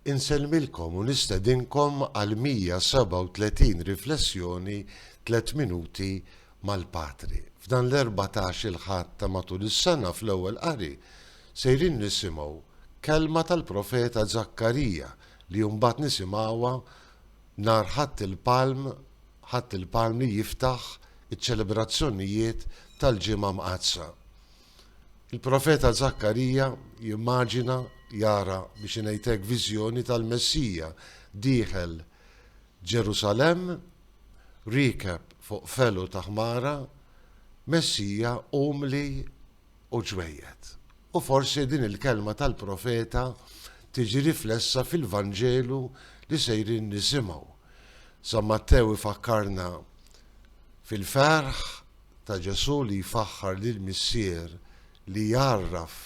Insellmilkom u nistedinkom għal 137 riflessjoni tliet minuti mal-Patri. F'dan l-erbatax il-Ħadd ta' matul is-sena fl-Ewwel Qari sejrin nisimgħu kelma tal-profeta Żakkarija li mbagħad nisimgħuha nhar Ħadd il-Palm Ħadd il-Palm li jiftaħ iċ-ċelebrazzjonijiet tal-Ġimgħa Mqaddsa. Il-profeta Żakkarija jimmaġina, jara, biex ingħid hekk, viżjoni tal-Messija dieħel Ġerusalemm, riekeb fuq felu ta' ħmara, Messija umli u ġwejjed. U forsi din il-kelma tal-profeta tiġi riflessa fil-Vanġelu li sejrin nisimgħu. San Mattew ifakkarna fil-ferħ ta' Ġesù li jfaħħar lill-Missier li jgħarraf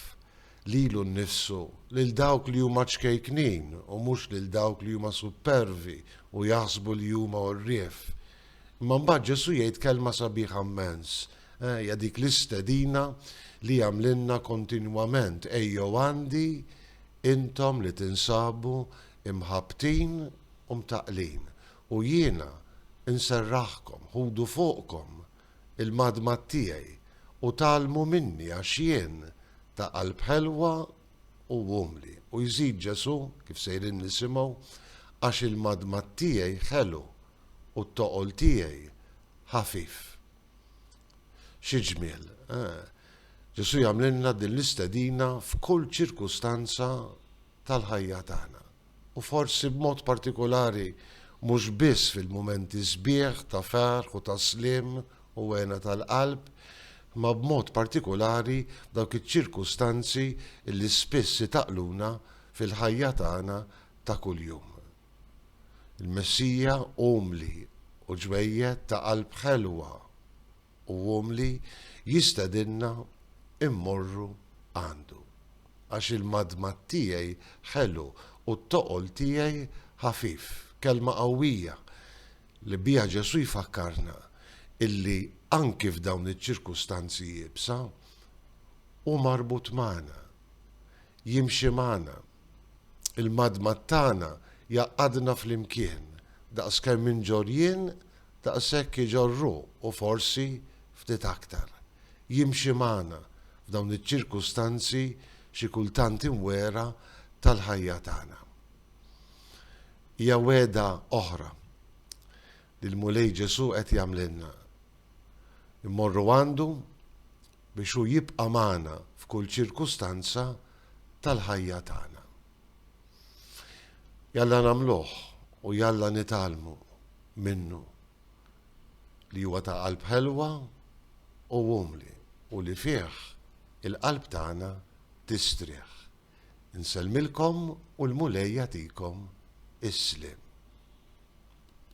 lilu nnifsu lil dawk li huma ċkejknin u mhux lil dawk li huma suppervi u jaħsbu li huma għorrief. Imma mbagħad Ġesù jgħid kelma sabiħa mmens, eh, hija dik l-istedina li jagħmlilna kontinwament ejjew għandi intom li tinsabu imħabbtin u mtaqlin U jiena nserraħkom, ħudu fuqkom il-madmad tiegħi u tgħallmu minni għax jien ta' qalb ħelwa u umli. U jżid Ġesù, kif sejrin nisimgħu, għax il-madmad tiegħi ħelu u t-toqol tiegħi ħafif. Xi ġmiel, eh? Ġesù jagħmlilna din l-istedina f'kull ċirkustanza tal-ħajja tagħna. u forsi b'mod partikulari mhux biss fil-mumenti sbieħ ta' ferħ u ta' sliem u hena tal-qalb, imma b'mod partikulari f'dawk iċ-ċirkustanzi li spiss itaqqluna fil-ħajja tagħna ta' kuljum. Il-Messija umli u ġwejjed ta' qalb ħelwa u umli jistedinna mmorru għandu. Għax il-madmad tiegħi ħelu u t-toqol tiegħi ħafif. Kelma qawwija li biha Ġesù jfakkarna illi anki f'dawn iċ-ċirkustanzi iebsa, hu marbut magħna, jimxi magħna. Il-madmad tagħna jgħaqqadna flimkien, daqskemm inġorr jien, daqshekk iġorr hu u forsi ftit aktar. Jimxi magħna f'dawn iċ-ċirkustanzi xi kultant imwegħra tal-ħajja tagħna. Hija wegħda oħra li l-Mulej Ġesù qed jagħmlilna. Immorru għandu biex hu jibqa' magħna f'kull ċirkustanza tal-ħajja tagħna. Jalla nagħmluh u jalla nitgħallmu minnu li huwa ta' qalb ħelwa u umli u li fih il-qalb tagħna tistrieħ. Insellmilkom u l-Mulej jagħtikom is-sliem.